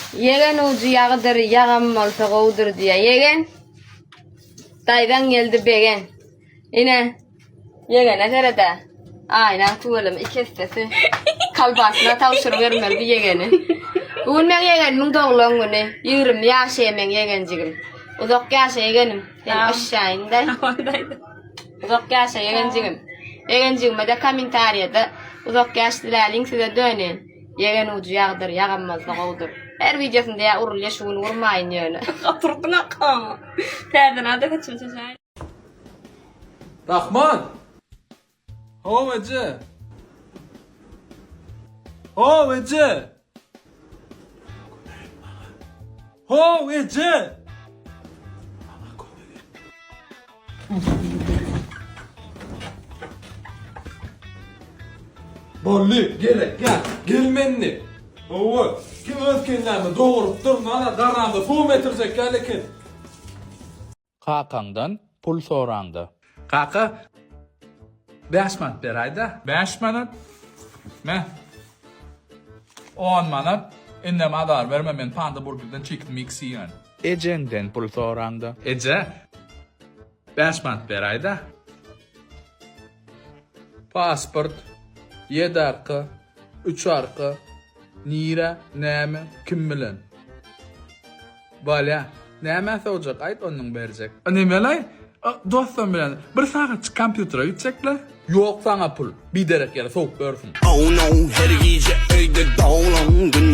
Ýegen ujy ýagydyr, ýagam bolsa gowudyr diýýär. Ýegen, daýzaň geldi begen. Ine, ýegene seret-ä. Aýnaň tüweleme iki essesi. Kalbasyna tabşyryp ýörmeli bu ýegeni. Bu gün meň ýegenimiň doglan güni. Ýigrimi ýaşaýa meň ýegenjigim. Uzak ýaşa ýegenim. Sen aşaýyňda. Uzak ýaşa ýegenjigim. Ýegenjigime-de kommentariýada uzak ýaş diläliň size döneýin. Ýegen ujy ýagdyr, ýagamazda gowdur. Her wideosynda ýa urul ýa şu gün urmaýyn ýöne. Gaty urduň akga. Täze nada saçyny çeçäýin. Rahman! Haw eje! Haw eje! How eje! Maňa kömek et. Bolly, gerek ýak. Gelmendi. Hawa, kim öz kellämi dogurypdyr, mana garanda suw getirjek ýaly eken. Kakaňdan pul soraňda. Kaka, bäş manat beraýda. Bäş manat? Me, on manat. Indem azar berme, men Panda Burgerden Chicken Mix iýen. Ejeňden pul soraňda. Eje, bäş manat beraýda. Pasport, ýedi arka, üç arka, nirä, näme, kim bilen? Balýa, nämä sowjak, aýt onuň berjek. Ine melaý, dostum bilen bir sagatjyk kompýutere gitjekle. Ýok saňa pul, biderek ýere sowup ýörsüň. Oh no, her gije öýde doglan gün.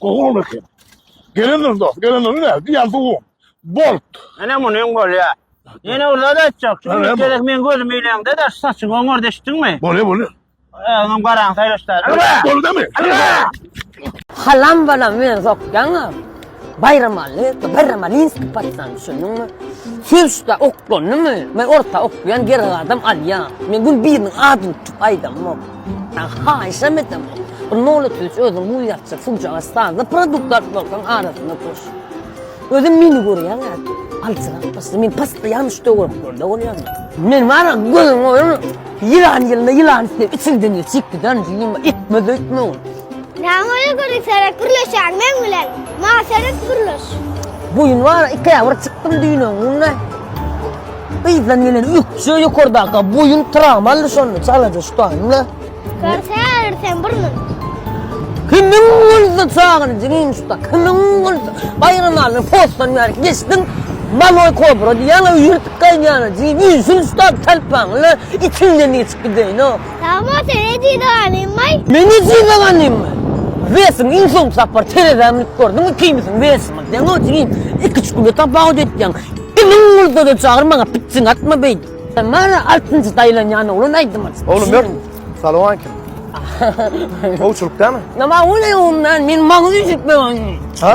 Gowy boldy ki. Gelenler dost, gelenler ne? Diýen suwuň. Bolt. Ene muny öň bolýa. Ýene ulla da etjek. Çünki gerek men gözüm ileňde de saçyň oňar deşdiňmi? Bolýa, bolýa. Öňem garaň saýlaşdar. Bolýa. Halam balam meni sokýaňa. Baýramaly, baýramalinski patyşany düşündiňmi? Söýüşde oklandymy? Men orta okýan ger gadam alýan. Men gün biriniň adyny tutup aýdamok. Saňa haýyşam edemok. Bir nolat üç özüň bu ýatjak suwjaga standa produkt alyp bolsaň arasyna düş. Özem meni görýäň äti. Aljyrap başlady. Men postoýan şu töwereklerde bolýan. Men bar a gözüň oýun. Ýylan ýylna ýylan üstüne içiňden geçip giderdi. Ýyma etmez öýtmegin. Näme öýe gülümserek gürleşýäň meň bilen? Maňa serek gürleş. Boýun bar, iki aýa bir çykdym düýnüň günde. Yzdan gelen ökje ýokardaka boýun tram aldy şonda çalaja şutaýmla. Görse sen burnun. Kimin güldi çagyny jigim şuta, kimin güldi? Baýram aldy, postan ýaryk geçdim. Maloy kobra diýýän, ýyrtyk gaýnýana jigim, ýüzün şutap talpaňla, içinden geçip gideýin o. Sag bol sen ejiz ganymmy? Men ejiz ganymmy? Wesiň iň soňky sapar terezä münüp gördüňmi kimisiň wesimi seň ötüňin iki üç güne tapawut etýäň kimiň bolsada çagyr maňa pitjiň atma beýdip. Sen maňa altynjy daýlanýan oglan aýdym aç. Oglum ýör. Salowmalikim. Gowçulyk dämi? Nima oňe oňe men maňa üýşütme. Ha?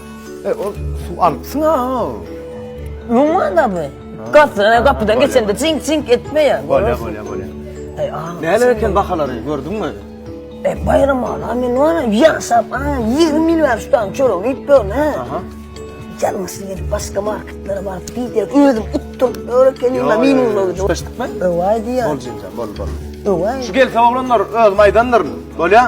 E, ol suw alypsyň ha. Numana bu. Gazdyran gapydan geçende cink cink etmeýär. Bolýar, bolýar, bolýar. Eý, a. Näler eken bahalary gördüňmi? E, baýram ala men wana ýaşap, a, 20 ýyl bäri şu taýdan çörek iýip ýörün, he. Aha. Ýalňyşly gelip başga marketlere baryp diýip, özüm utduryp ýör ekenim, meniň boldy. Şulaşdykmy? Öwaý diýýär. Bol jemjan, bol, bol. Öwaý. Şu gelse oglanlar özüm aýdandyryn. Bolýar?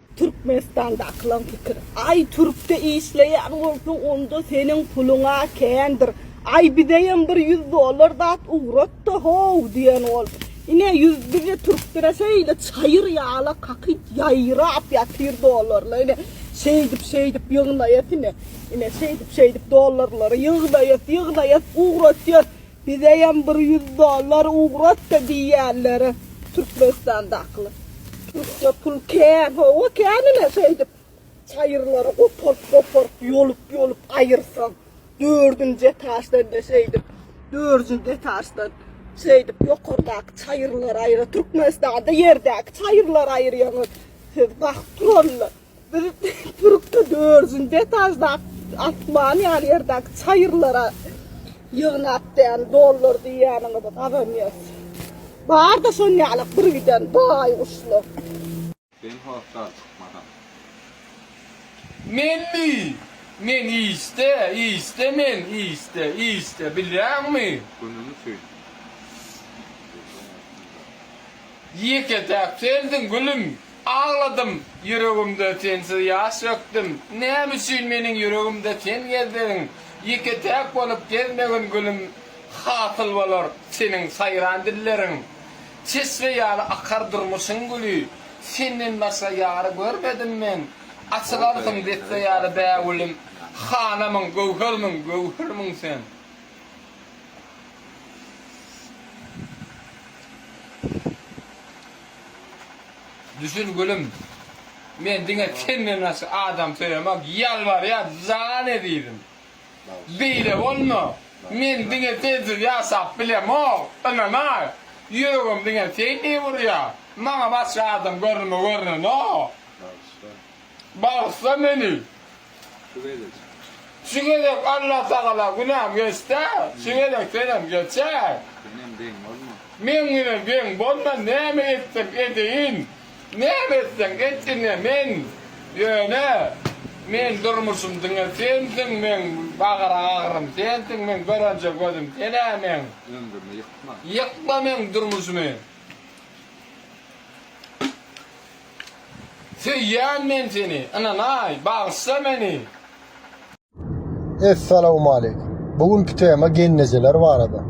Türkmenistandakylaň pikiri. Aý türkde işleýän bolsaň onda seniň puluňa kändir. Aý bizeýem bir ýüz dollar zat ugratda how diýen ol. Ine ýüz bize türklere şeýle çaýyr ýala kakyp ýaýrap ýatyr dollarlar ine şeýdip şeýdip ýygnaýas ine. Ine şeýdip şeýdip dollarlary ýygnaýas ýygnaýas ugratyas. Bizeýem bir ýüz dollar ugratda diýýänler Türkmenistandakylar. Türkçe pul kän, hawa kän-le şeýdip çaýyrlary goparyp-goparyp, ýolup-ýolup aýyrsaň, dördünji etaždan-da şeýdip, dördünji etaždan şeýdip ýokardaky çaýyrlary aýyra, Türkmenistanda ýerdäki çaýyrlary aýyrýaňyz siz, bakyp turallar. Biz turupda dördüncü etajda atman yani yerdaki çayırlara yığnap diyen dollar diyenini biz kazanıyoruz. Bar da son yalık bir giden bay uçlu. Ben hoşdar çykmasam. Men mi? Men işde, işde men, işde, işde, bilýäňmi? Günüňi söýdüm. Ýeke-täk sensiň, gülüm. Agladym, ýüregimde sensiz ýaş dökdüm, Näme üçin meniň ýüregimde sen gezdiň? Ýeke-täk bolup gezmegin gülüm, Hasyl bolar seniň saýran dilleriň. Çeşme ýaly akar durmuşyň güli, Senden başga ýar görmedim men. Açylarsyň desse ýaly bägülüm, Hanamyň, göwhermiň, göwhermiň sen. Düşün gülüm men diňe senden başga adam söýemok ýalbarýa jan ezizim beýle bolma men diňe sensiz ýaşap bilemok ynanaý ýüregim diňe seni urýa maňa başga adam görnüme görnenok bagyşla meni Şu gezek. Şu gezek Allah tagala günäm geçse, şu gezek senem geçer. Senem deň bolma. Men güne deň bolman näme etsem edeýin, näme etseň et ine men ýöne meň durmuşym diňe sensiň, meň bagara agyrym sensiň, meň görenje gözüm senä meň. Ömrümi ýykma. Ýykma meň durmuşymy. Söýýän men seni, ynanaý, bagyşla meni. Essalawmaleýkum. Bu günki tema gelnejeler barada.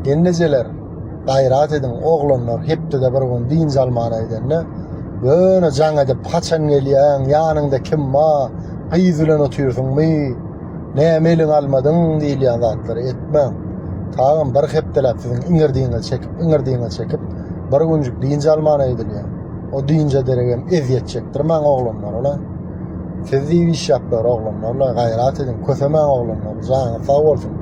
Gelnejeler, gaýrat ediň, oglanlar hepdede bir gün dynç almana gidende, ýöne jaň edip, haçan gelýäň, ýanyňda kim bar, gyz bilen otyrsyňmy, Näme eliňe almadyň diýilýän zatlary etmäň. Taýam bir hepdeläp siziň iňirdiňizi çekip, iňirdiňizi çekip, bir günjük dynç alman öýdülýär. O dynja deregem ezýet çekdirmäň oglanlarala. Siz diýip iş ýapýar oglanlarla, gaýrat ediň, kösemäň oglanlar, janyňyz sag bolsun.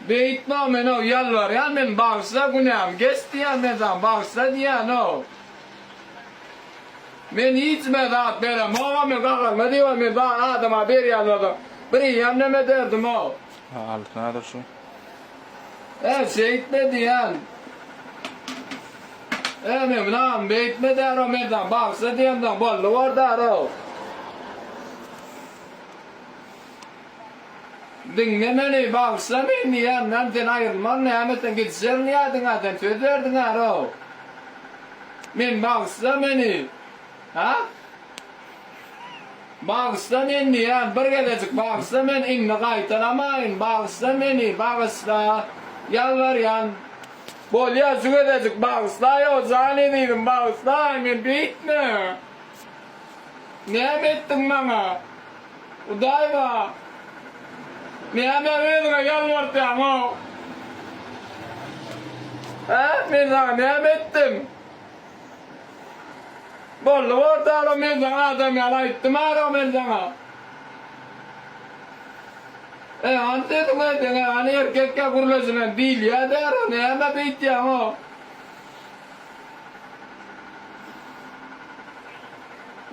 Beýtma menow ýalbarýan men bagyşla günämi geç diýýän men saňa bagyşla diýýänow men hiç me zat beremogam men gaharma diýibam men bar adama berýän bolsam bir iýem neme derdimow ha altyn adyr şu. Ä şeýtme diýýän ä men münam beýtme därow men saňa bagyşla diýemsoň boldy bor därow. Diňle meni, bagyşla meni, ýandan sen aýrylman, näme sen gidişerin ýadyňa, sen söz berdiň arow. Men bagyşla meni, ha? Bagyşla men diýýän, bir gezejik bagyşla men indi gaýtalamaýyn, bagyşla meni, bagyşla, ýalbarýan. Bolýa, şu gezejik bagyşlaýow, jan ezizim, bagyşlaý, men beýtme. Näme etdiň maňa? Hudaýyma, näme özüňe ýalbartýaň-ow? Hä, men saňa näme etdim? Boldy bortala, men saňa adam ýaly aýtdym ara men saňa. E, hany sesiňi, diňe hany erkekkä gürleşilen diýilýä-dä ara, näme beýtýäň-ow?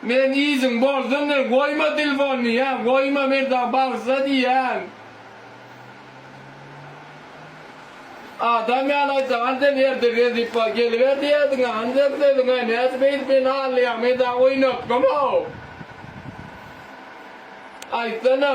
Men yzyň bolsun men goýma tilfonyny ýa goýma merdan bagşysa diýýän. Adam ýaly aýtsaň hany sen ertir Rezipa geliber diýerdiňä hany sen sözüňe nädip beýdip meni allaýaň men saňa oýnatgam-ow. Aýtsana.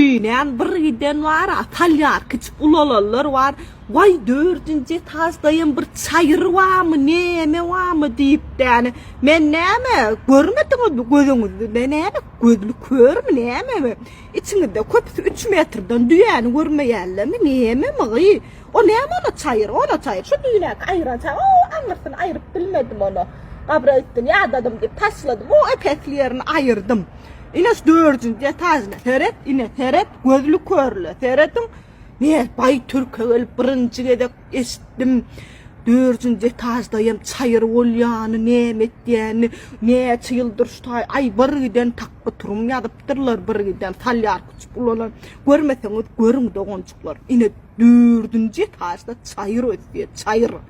Dünän bir giden bar atalýar kiçik ulalanlar bar waý dördünji etajdaýam bir çaýyr barmy näme barmy diýipdäne men näme görmediňizmi gözüňizde näme gözli körmi nämemi içiňizde köpüsi üç metrden düýäni görmeýänlermi nämemi gyý o näme ol çaýyr ol çaýyr şu dünäki aýyran çaýyr o aňyrsyny aýryp bilmedim ony gabyra gitdim ýadadym diýip taşladym o ep esli ýerini aýyrdym. Ine şu dördünji etajyna seret, ine seret, gözli körle seredin. Ne bay türke gelip birinci gezek eşitdim. Dördünci etajdaýam çaýyr bolýany, näme etýäni, näçe ýyldyr şu taý, aý bir giden takby turum ýazypdyrlar, bir giden salýar küçük ulalan. Görmeseňiz görüň doganjyklar. Ine dördünji etajda çaýyr ösýär, çaýyr.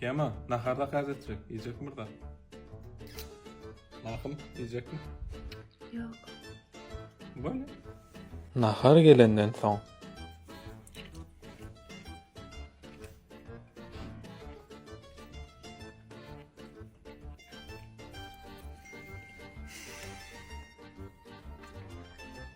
Kema, nahar zakaz etjek. Iýjek murda. Mahym, iýjek mi? Ýok. Böyle. Nahar gelenden soň.